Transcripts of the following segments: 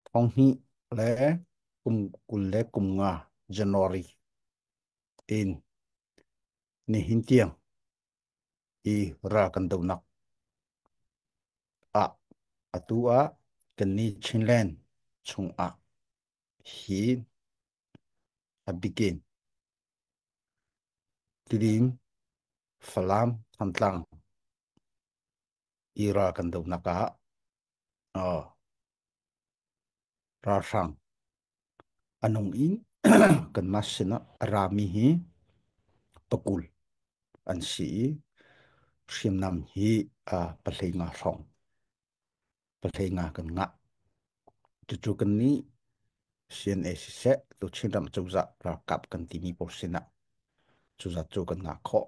Thonghnih le kum kul le kum nga January in nihin tiang i ra kan donak ah atu ah kan ni Chinland chung ah hi a bikin tidim Falam Thantlang IRA kan dohnak ah uh, ralhrang anung in kanmah sinah rami hi pakul an si i hriamnam hi uh, pahlei nga hrawng pahlei nga kan ngah cucu kan ni CNA siseh tu Chinram cozah ralkap kan timi pawl sinah cuzat cu kan ngah khawh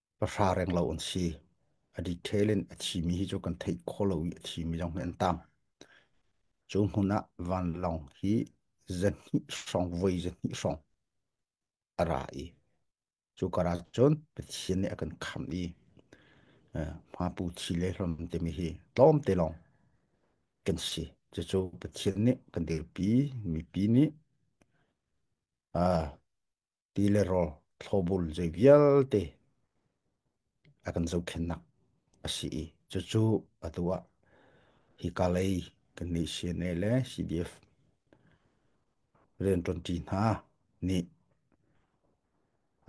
pahra reng lo an si. A detail in a thimi hi cu kan theih khawh lo i a thimi zong hi an tam. Cu hmun ah vanlawng hi zanhnih hrawng voi zanhnih hrawng a ra i cu karah cun Pathian nih a kan khamh i hmapu thi le hlom timi hi tlawmte lawng kan si. Cucu Pathian nih kan dirpi mipi nih ti le rawl thlobul zei vialte a kan zohkhennak a si i cucu atu ah hi ka lei kan nei CNA le CDF rian ṭuanṭi hna nih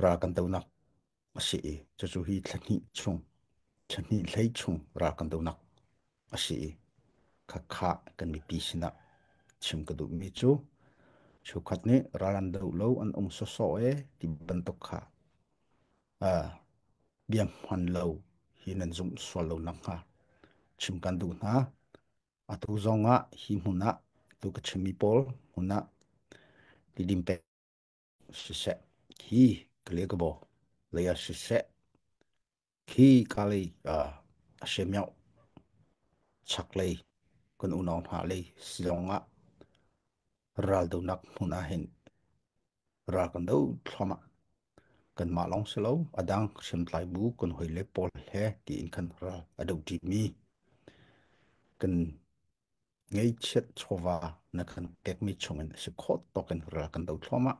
ra kan donak a si i cucu hi thla hnih chung thla hnih hlei chung ra kan do nak a si i kha kha kan mipi sinah chim ka duhmi cu chukhat nih ralan do lo an ung soso e ti bantuk kha biang hman lo hi nan zumh sual lo nak hnga chim kan duh hna atu zong ah hi hmun ah tu ka chimmi pawl hmun ah tidim pek Siseh, khi ka leh ka baw. Lei ah siseh, khi ka lei a si meuh. Chak lei kan unau hna lei silong ah ral donak hmun ah hin ral kan do thluam ah kan mah lawng si lo a dang hriamtlai bu kan hoi le pawl he tiin kan ral a do ṭi mi kan ngeichiat chawva na kan pekmi chungin si khawt tokin ral kan do thloma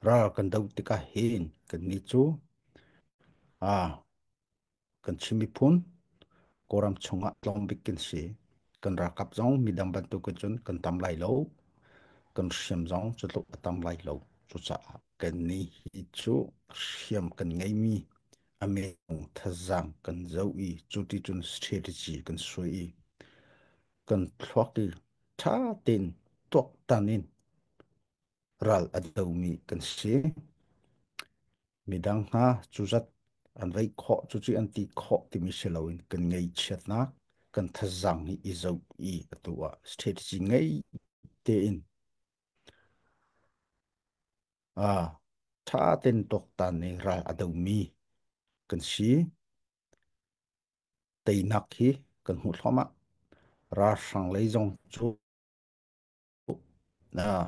ral kan do tikah hin kan ni cu a kan chimi phun koram chungah tlongbik kan si kan rakap zong midang bantukin cun kan tam lai lo kan hriam zong cu tluk a tam lai lo cucaah kan ni hi cu hriam kan ngeimi a meng thazang kan zo i cuti cun strategy kan suai i kan thluak i ṭha tein tuaktan in ral a domi kan si. Midang hna cuzat an reih khawh cucu an ti khawh timi si loin kan ngei chiatnak kan thazang i i zoh i atu ah strategy ngei tein Ah, tha ten tuaktan ning ral a domi kan si. Teinak hi kan hmuh thluahmah. Ralhrang lei zong cu ah,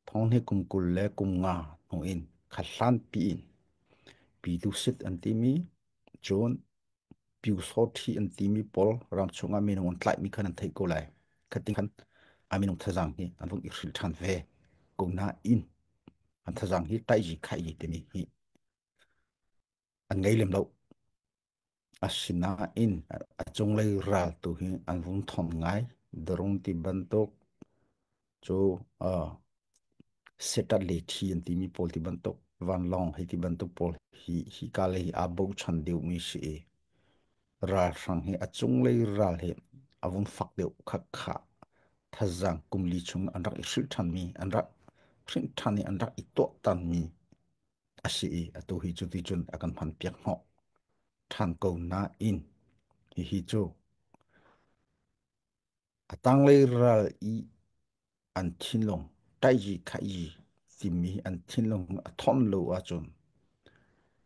thong he kum kul le kum nga hnu in khathlan pi in pi dusit an timi cun Pyusawṭhi an timi pawl rang chungah minung an tlaihmi khan an theih ko lai. Khating khan a minung thazang hi an vung i hrilh ṭhan ve. Ko nain an thazang hi taiji khaiji timi hi an ngei lem lo. Asinain a cunglei ral tu hi an vung thawnh ngai. Darung ti bantuk cu setter le thi an timi pawl ti bantuk vanlawng hei ti bantuk pawl hi hi kale hi aa bochan deuhmi si i ralhrang hi a cunglei ral hi a vun fak deuh khakha thazang kumli chung an rak i hril ṭhanmi an rak hrinh ṭhan i an rak i tuahtanmi a si i atu hi cu ti cun a kan hman piak hnawh ṭhan ko nain hihi cu A tanglei ral i an thinlung taizi khaizi timi an thinlung a thon lo ahcun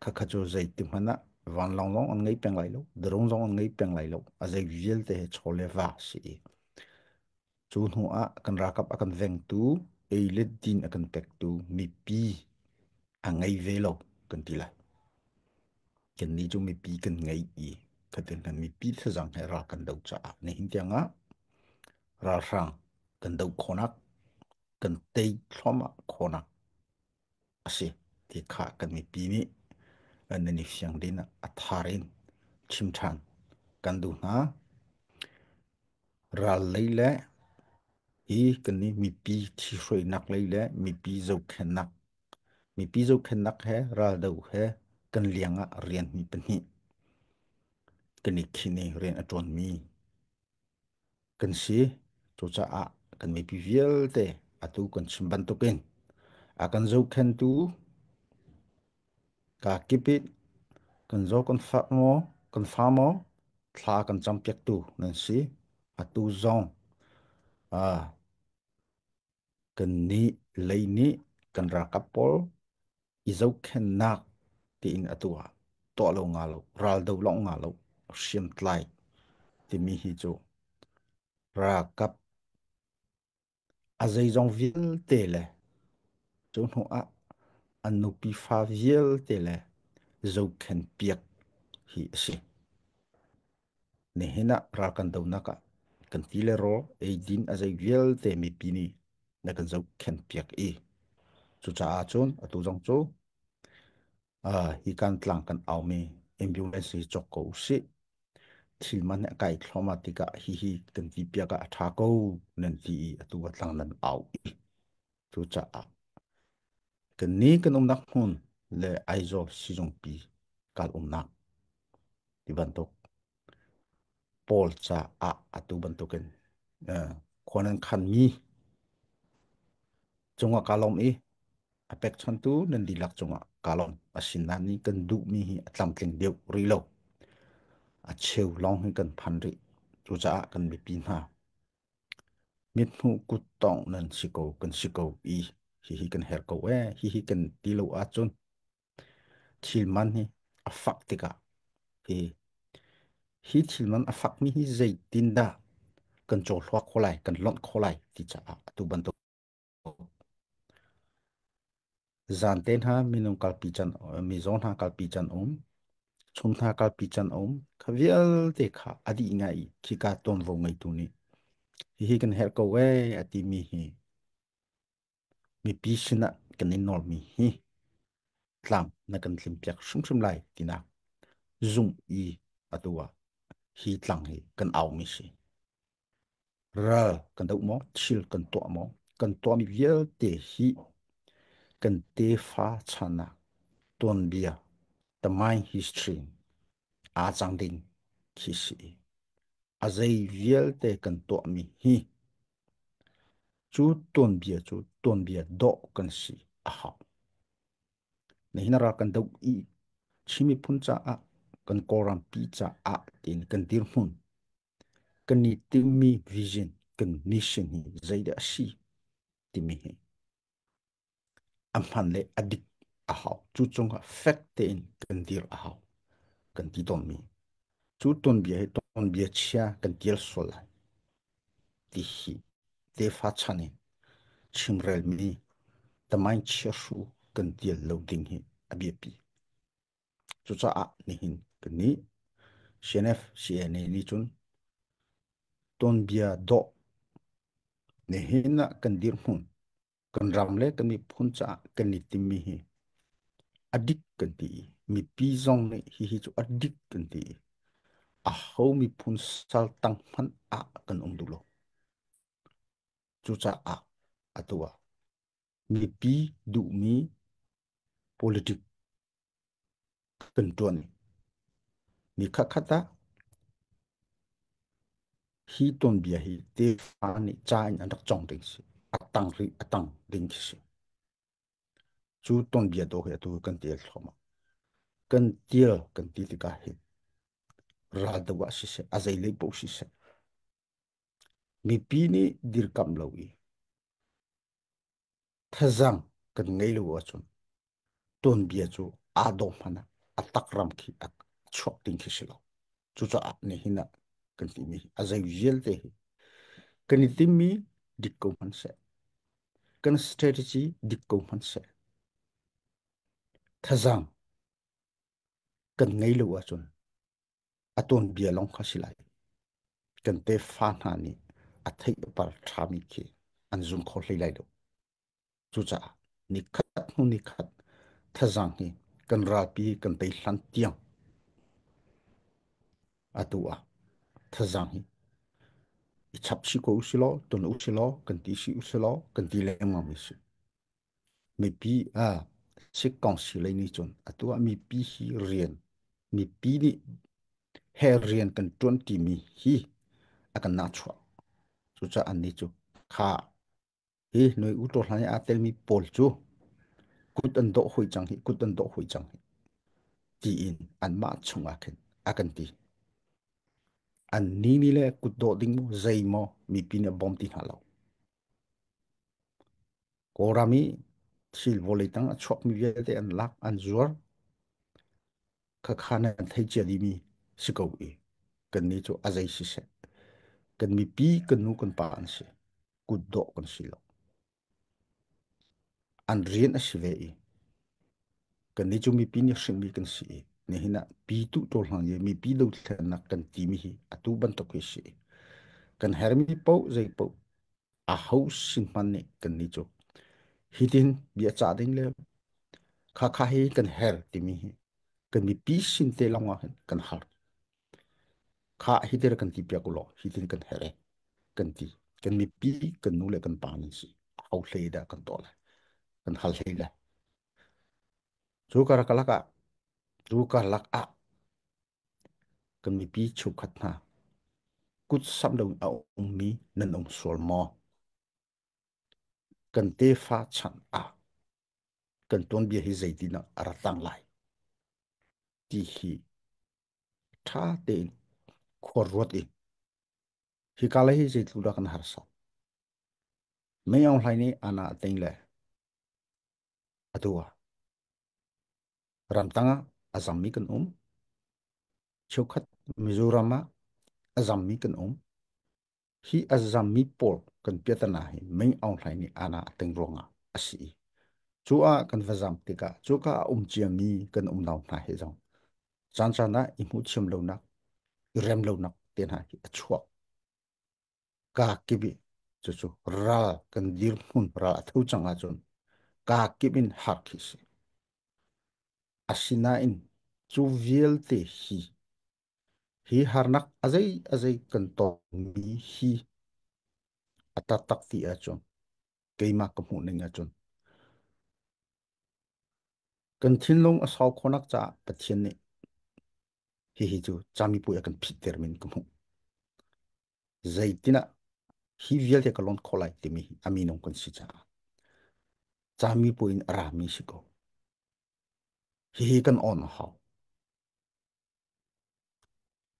khakha cu zeiti hmanh ah vanlawng lawng an ngei peng lai lo drone zong an ngei peng lai lo a zei vialte he chaw le va si i cu hnu ah kan rakap a kan vengtu ei le din a kan pektu mipi a ngei ve lo kan ti lai. Kannih cu mipi kan ngei i khatin mipi thlazang he ra kan doh caah nihin tiangah ralhrang kan doh khawhnak kan tei thluahmah khawhnak a si ti kha kan mipi nih nan i fiang din a thar in chim ṭhan kan duh hna. Ral lei le hi kannih mipi thi hruainak lei le mipi zohkhennak Mipi zohkhenhnak he raldo he kan liang ah rianhmi pahnih kan i khinh i rian a ṭuanmi kan si. Cucaah kan mipi vialte atu kan chim bantukin a kan zohkhenhtu kaa kip it kan zaw kan fak maw kan fa maw thla kan campiaktu nan si. Atu zong Kannih lei nih kan ralkap pawl i zohkhenhnak tiin atu ah tuah lo nga lo, raldo lawng nga lo, hriamtlai timi hi cu ralkap a zeizong vialte le cu hnu ah an nupi fa vialte le zohkhen piak hi a si. Nihin ah ral kan donak ah kan ti le raw eidin a zei vialte mipi nih na kan zohkhenh piak i cucaah cun atu zong cu uh, hi kan tlang kan aumi ambulance hi cawk ko usih thil man he kai thloma tikah hihi kan ti piak ah a tha ko nan ti i atu a tlang nan au i Cucaah kannih kan umnak hmun le Aizawl sizungpi kan umnak ti bantuk pawl caah atu bantukin uh, khua nan khanmi cungah kaa lawm i a pekchantu nan dihlak cungah kaa lawm asin nan nih kan duhmi hi a tlamtling deuh rih lo a cheu lawng hi kan phan rih cucaah kan mipi hna Mithmuh kut tawngh nan si ko kan si ko i hihi kan her ko ee hihi kan ti lo ahcun thil man hi a fak tikah hi hi thil man a fakmi hi zeitin dah kan cawhluak kho lai kan lonh kho lai ti caah atu bantuk Zan te hna minung kalpi can mi zong hna kalpi can um chung hna kalpi can um kha vialte kha a dih ngai khi ka tuanvo ngeitu nih hihi kan herh ko e a timi hi mipi sinah kan in nawlmi hi tlang na kan tlim piak hrimhrim lai tinak zung i atu ah hi tlang hi kan aumi si ral kan doh maw thil kan tuah maw kan tuahmi vialte hi kan tefa chanah tuanbia the my history aa cang ding khi si a zei vialte kan tuahmi hi cu tuanbia cu tuanbia doh kan si a hau nihin ra kan doh i chimi phun caah kan kawrampi caah tiin kan dirhmun kan i timhmi vision, kan mission hi zeidah a si timi hi a hman le a dik a hau. Cu cungah fek tein kan dir a hau kan ti tonmi. Cu tonbia hi tonbia chia kan tial sual lai ti hi tefa chan in chimrelmi tamain chia shu kan tial lo ding hi a biapi. Cucaah nihin kan ni CNFCNA nih cun tuanbia dawh nihin ah kan dirhmun kan ram le kan miphun caah kan i timmi hi a dik kan ti i mipi zong nih hihi cu a dik kan ti i a ho miphun saltang hmanh ah kan um duh lo. Cucaah atu ah mipi duhmi politic kan tuan mi khatkhat ah hi tuanbia hi te nih ca in an rak cong ding si a tang ri a tang ding khi si cu tuanbia do he tu kan tial thlom kan tial kan ti tikah hi ral dawa si se a zei lei po si se mipi nih dirkam lo i Thazaang kan ngei lo ahcun tuanbia cu aa dawh hmanh ah a takram khi a chuak ding khi si lo. Cucaah nihin ah kan timi hi a zei vialte hi kan i timmi dik ko hmanh seh. Kan strategy dik ko hmanh seh. Thazaang kan ngei lo ahcun a tuanbia lawng kha si lai. Kan tefa hna nih a theihpar ṭhami khi an zum kho hlei lai lo. Cucaah nikhat hnu nikhat thazang hi kan rapi kan tei hlan tiang atu ah thazang hi i chap si ko usilaw, tun usilaw, kan ti si usilaw, kan ti lengmang mi si. Mipi ah Sik Council nih cun atu ah mipi hi rian mipi nih he rian kan ṭuanṭi mi hi a kan nahchuah. Cucaah annih cu kha hi noi uṭaw hlan i aa telmi pawl cu kut an dawh hoi cang hi, kut an dawh hoi cang hi, tiin anmah chungah khin a kan ti. Annih nih le kut dawh ding maw, zei maw mipi nih a bawm ti hna lo. Kawlram i thil vawlei tang a chuakmi vialte an lak an zuar khakha nan thei cia dimi si ko i kan ni cu a zei siseh kan mipi kan nu kan pa an si kutdaw kan si lo an rian a si ve i kan ni cu mipi nih hrinmi kan si i nihin ah pi tu to hlang ye mipi do thlennak kan timi hi atu bantuk hi si kan hermi po zei po a ho sin hmanh nih kannih cu hitin bia cah ding le khakha hi kan her timi hi kan mipi sin te lawng ah hin kan har kha hitir kan ti piak lo hitin kan here kan ti kan mipi kan nu le kan pa ni si hau hle da kan to le kan hal hle le chu kar kalak ah chu kar lak ah Kan mipi cheukhat hna kut samh loin a ummi nan um sual maw? Kan tefa chan ah kan tuanbia hi zeitinah a ra tang lai ti hi ṭha tein khuaruat in hika lai hi zeitluk dah kan harsa. Mei Aung Hlaing nih Anna a tei le Atu ah ramtang ah a zammi kan um. Cheukhat Mizoram ah a zammi kan um. Hi a zammi pawl kan piatana hi mei aung hlai ni ana ateng ruang ah a si i. Cu ah kan va zam tikah cu ka a um ciami kan um nau hna he zong. Caan caan ah i hmu thiam lonak, i rem lonak te hna hi a chuak. ka kibi cu cu ral kan dirhmun ral a tho cang ahcun ka kip in hak khi si asinain cu vialte hi hi harnak azei azei kan tongmi hi a taktak ti ahcun keimah ka hmuh ning ahcun kan thinlung a sau khonak caah pathian nih hihi cu camipuai a kan phit ter min ka hmuh zeitinah hi vialte ka lonh khawh lai timi a minung kan si caah cami puin a rami si ko hihi kan on a hau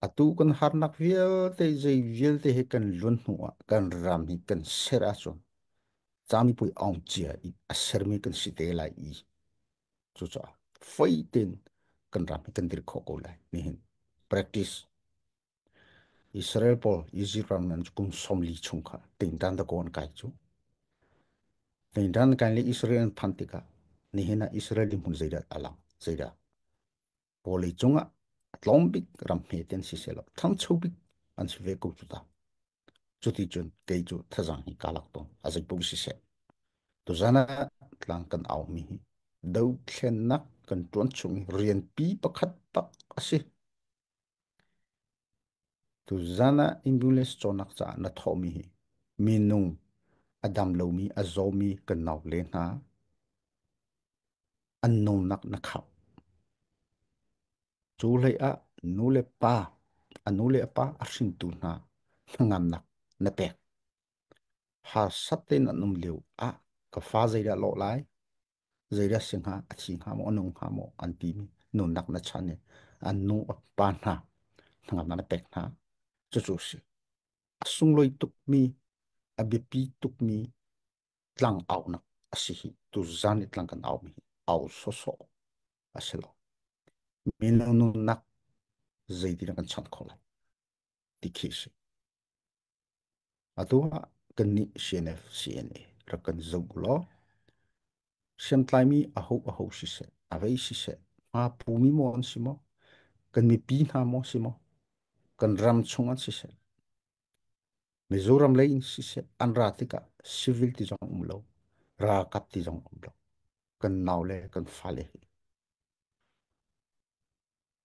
atu kan harnak vialte zei vialte he kan luan hnu ah kan ram hi kan ser ahcun cami pui ong cia i a sermi kan si te lai i cucaah fai tein kan ram hi kan dir khawh ko lai nihin practice Israel pawl Izipt ram nan kum somli chung kha tingdan da ko an kai cu. Tingdan kan le Israel an phan tikah nihin ah Israel din hmun zeidah alang zeidah bolei cungah tlawm bik ram hme ten si se lo thangcho bik an si ve ko cu ta cuti cun kei cu thazang hi kalak to azaipu si se tu zana tlang kan au mi hi do thlen nak kan tuan chung i rian pi pakhat tak asi Tuzan ah ambulance cawnnak caah na thawhmi hi minung a dam lomi, a zawmi kan naule hna an nungnak na khao. Cu hlei ah nule pa, a nule pa a hringtu hna hnangamnak na pek. Harsat tein an um lio ah ka fa zeidah law lai? zeidah si hnga, a thi hnga maw, a nung hnga maw, an timi nunnak na chan i an nu a pa hna hnangamnak na pek hna. Cucu a si. A sunglawi tukmi, a biapi tukmi tlang aunak a si hi. Tu zan i tlang kan aumi hi au sawsawh a si lo. Mino nunnak zeitin kan chant khawh lai. Ti khi si. Atu ah kannih CNF CNA rak kan zoh law hriamtlaimi aho aho siseh avei siseh hma phumi maw an si maw kan mipi hna maw si maw kan ram chung an siseh Mizoram lei in siseh an ra tikah civil ti zong um lo ralkap ti zong um lo kan nau le kan fale hi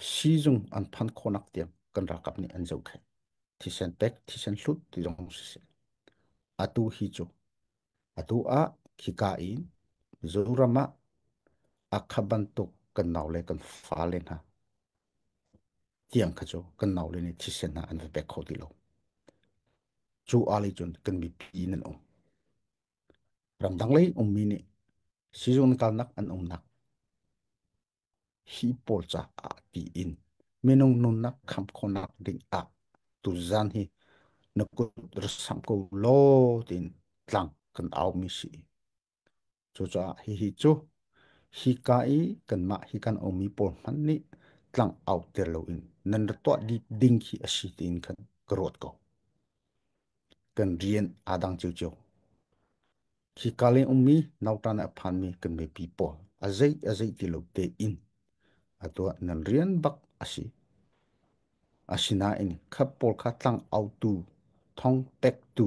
Siizung an phan khawhnak tiang kan ralkap nih an zohkhenh. Thisen pek, thisen hlut ti zong siseh. Atu hi cu. Atu ah khika in Zoram ah akha bantuk kan naule kan fale hna tiang kha cu kan naule nih thisen hna an va pek kho ti lo. Cu ali cun kan mipi in an um. Ramdang lei ummi nih sizung kalnak an umnak hi pawl caah tiin minung nunnak kham khawnak ding ah tuzan hi na kut rasam ko law tiin tlang kan au mi si cucaah hihi cu hi ka i kanmah hi kan omi pawl hman nih tlang au ter lo in nan ra tuah dip ding khi a si tiin kan ka ruat ko kan rian aa dang cio cio Hika leng ummi nautan a phanmi kan mipi pawl a zei a zei ti lo te in a tuah nan rian bak a si. Asinain khat pawl kha tlang autu thong pektu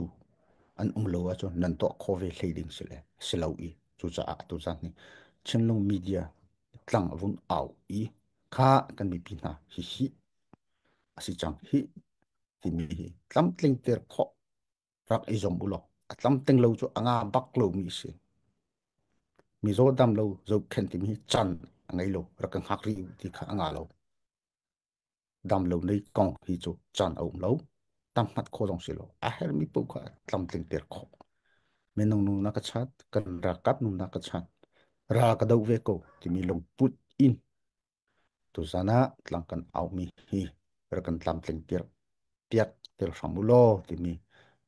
an um lo ahcun nan tuah kho ve hlei ding si le si lo i cucaah atu zan hi Chinlung media tlang vun au i kha kan mipi hna hi hi a si cang hi timi hi tlamtling ter khawh rak i zom u law a tlam teng lo cu anga bak lomi si mi zo dam lo zo khen timi chan a ngei lo rak ka hngak ri ti kha anga lo dam lo nei kong hi cu chan a um lo tam mat kho zong si lo a her mi pu kha tlam tling ter kho minung nu na ka chat kan ra kap nu na ka chat ra ka do ve ko timi lung put in Tuzan ah tlang kan aumi hi rak kan tlamtling piak piak tel hram u law timi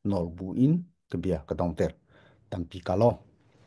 nawl bu in ka bia ka dong ter. Tampi ka law.